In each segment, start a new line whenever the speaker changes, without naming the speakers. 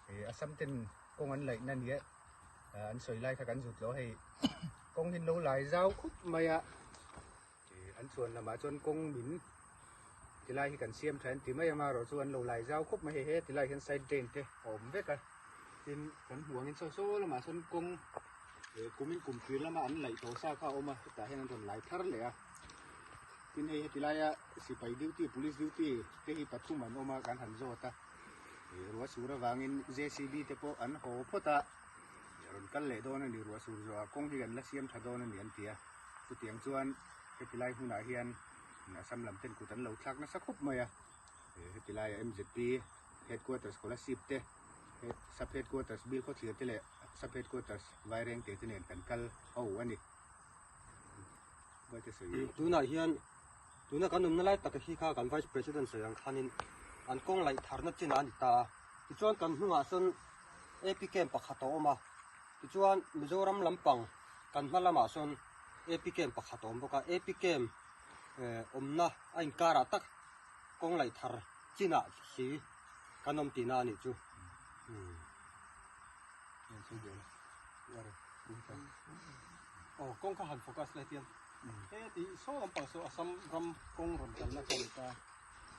He assam ten kawng an laih na nia an sawi lai kha kan zut lo hei kawng hi lo lai zau khup mai a an chuan lamah chuan kawng min tilai hi kan siam tha ti mai ama ro chu an lo lai zau khup mai he tilai hian side drain te awm vek a tin kan hmuang in so so lamah chuan kawng kumin kum tir lama an laih tawh sa kha awm a hetah hian an rawn lai thar leh a tin hei hetilaia sipai duty police duty te hi pathum an awm a kan han zawt a Ruahsur avangin JCB te pawh an haw phawt a, a rawn kal leh dawn a ni, ruahsur zawha kawng hi kan la siam tha dawn a ni an ti a. Chutiang chuan heti lai hmunah hian Assam lam ten kut an lo thlak nasa khawp mai a, heti laia MZP Headquarters Kolasib te, Sub Headquarters Bilkhawthlir te leh Sub Headquarters Vairengte te nen kan kal ho a ni. Tunah hian.
Tuna kan awmna lai taka hi kha kan Vice President Sawiang Khanin an kawng laih tharna chinah a ni ta a. Tichuan kan hnungah sawn APKM pakhat a awm a, tichuan Mizoram lampang kan hma lamah sawn APKM pakhat a awm bawk a. APKM awmna a inkarah tak kawng laih thar chinah hi kan awm tihna a nih chu.
Aw kawng kha han focus la hetiang he ti saw lampang saw assam ram kawng rawn kalna kha ni ta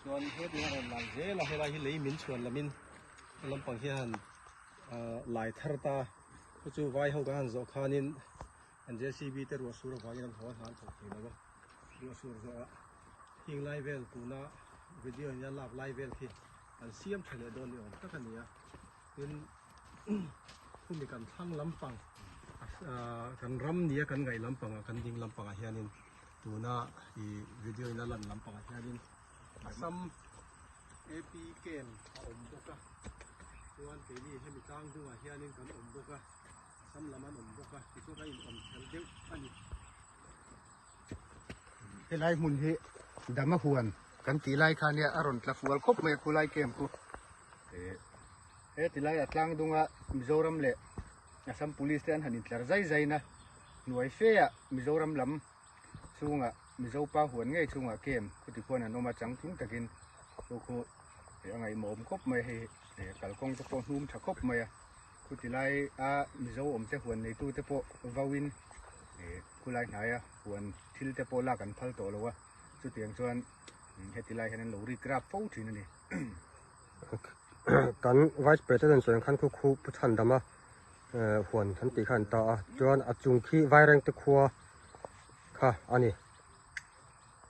chuan he ti rawn lal zel a helai hi lei min chhuan lamin he lampang hian lai thar ta chu chu vai ho ka han zawh khanin an JCB te ruah sur avangin an haw a hlan chawk thei lo a ruah sur zawh a hing lai vel tuna video ina lak lai vel khi an siam tha leh dawn ni awm tak a ni a Tin khumi kan thlang lampang kan ram nia kan ngaih lampanga kan ding lampanga hianin tuna i video in a lan lampanga hianin Assam AP camp a awm bawk a chuan keini hemi tlang hnungah hianin kan awm bawk a Assam lam an awm bawk a tichuan kan inawm tel deuh a ni
helai hmun hi Damahuan kan tih lai khan nia a rawn tla fual khawp mai a khulai camp chu He ti lai a tlang dunga Mizoram leh Assam Police te an han intlar zai zai na hnuai fe a Mizoram lam chunga Mizo pa huan ngei chunga kem khutiphuan an awm a chang tling takin khu khu a ngaihmawhawm khawp mai hei kalkawng te pawh hnum tha khawp mai a khuti lai a Mizo awm te huan nei tu te pawh vawin khulai hnaia huan thil te pawh lak an phal tawh lo a chutiang chuan Hetilai hian an lo rikrap fo thin a ni.
Kan Vice President chuan khan khu khu pu chhan dama huan an tih kha an ta a, chuan a chung khi Vairengte khua kha a ni.